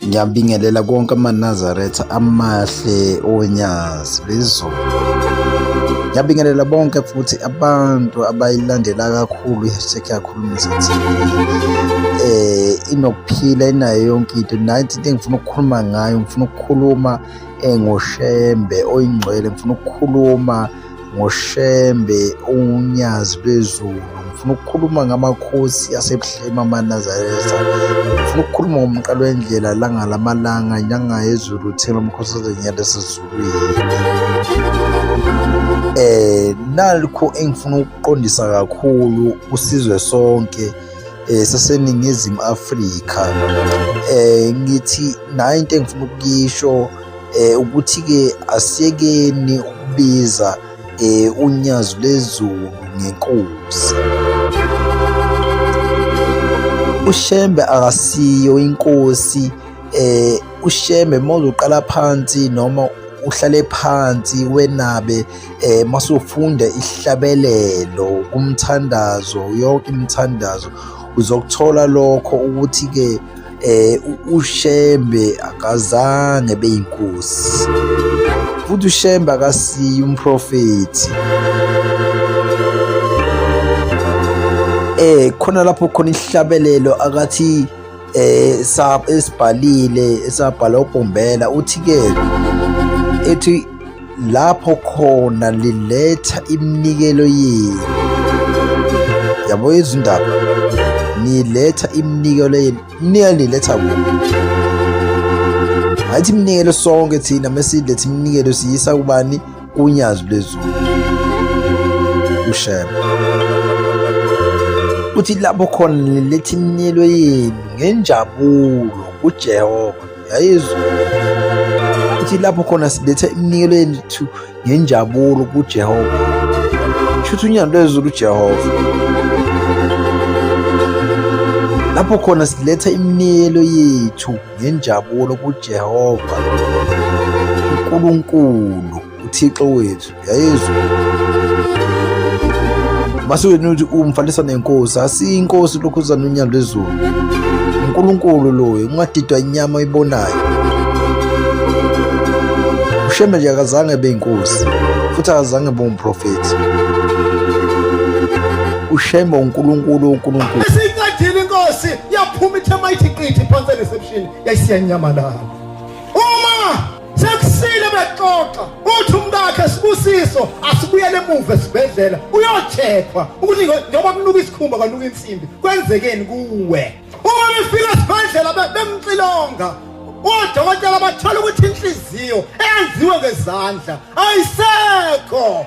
ngiyabingelela konke amanazaretha amahle onyazi lezulu ngiyabingelela bonke futhi abantu abayilandela kakhulu i-hashtag yakhulumisa TV eh inokuphila inayo yonke into nathi into engifuna ukukhuluma ngayo ngifuna ukukhuluma engoshembe oyingcwele ngifuna ukukhuluma ngoshembe unyazi lwezulu ngifuna ukukhuluma ngamakhosi asebuhlema amanazareza ngifuna ukukhuluma ngomqalo wendlela langa lamalanga nyanga yezulu thela umkhosi ozenyala esizulwini eh nalikho engifuna ukuqondisa kakhulu usizwe sonke eh saseningizimu Afrika eh ngithi nayo into engifuna ukuyisho eh ukuthi ke asiyekeni ukubiza eh unyazi lezulu ngenkosi ushembe akasiyo inkosi eh ushembe mozoqala phansi noma uhlale phansi wenabe eh masufunda ihlabelelo kumthandazo yonke imithandazo uzokuthola lokho ukuthi ke eh uShembe akazange beyinkosi futhi uShembe akasiyi umprofethi eh khona lapho khona ihlabelelo akathi eh esibhalile esabhala uBhombela uthi ke ethi lapho khona liletha iminikelo yenu yabo izindaba niletha iminikelo yenu niya niletha kuphi ngathi iminikelo sonke thina mesiletha iminikelo siyisa kubani kunyazi lwezulu ushema uthi lapho khona niletha iminikelo yenu ngenjabulo kujehova yayizwa ithi lapho khona siletha iminikelo yethu ngenjabulo kuJehova shutha unyando lwezulu uJehova lapho khona siletha iminikelo yethu ngenjabulo kuJehova uNkulunkulu uThixo wethu yayizwa masiwena uthi umfanisa nenkosi asiyi inkosi lokhu uzana unyalo lwezulu unkulunkulu loyo ungadidwa inyama oyibonayo ushembe nje akazange ebe inkosi futhi akazange ebe umprofethi ushembe unkulunkulu unkulunkulu isincedile inkosi yaphuma ithe mayithi qithi phansi ereception yayisiyanyamalala sekusile bexoxa uthi umkakhe sibusiso asibuyele emuva esibhedlela uyochekhwa ukuthi njengoba kunuka isikhumba kwanuka insimbi kwenzekeni kuwe uma befika esibhedlela bemxilonga odokotela bathola ukuthi inhliziyo eyenziwe ngezandla ayisekho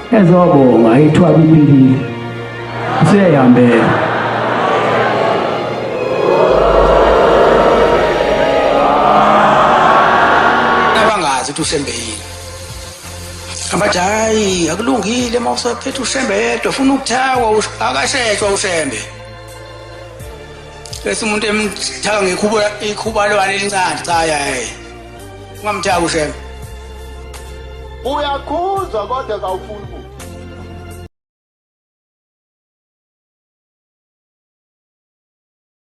ezobonga ithwaba impilile seyihambela abangazi ukuthi ushembe yini abathi hayi akulungile uma usaphethe ushembe yedwa funa ukuthawa akashetshwa ushembe bese umuntu emthaka ngekhuba ikhuba lwane elincane cha yaye ungamthaki ushembe uyakhuzwa kodwa kawufuni ukuthi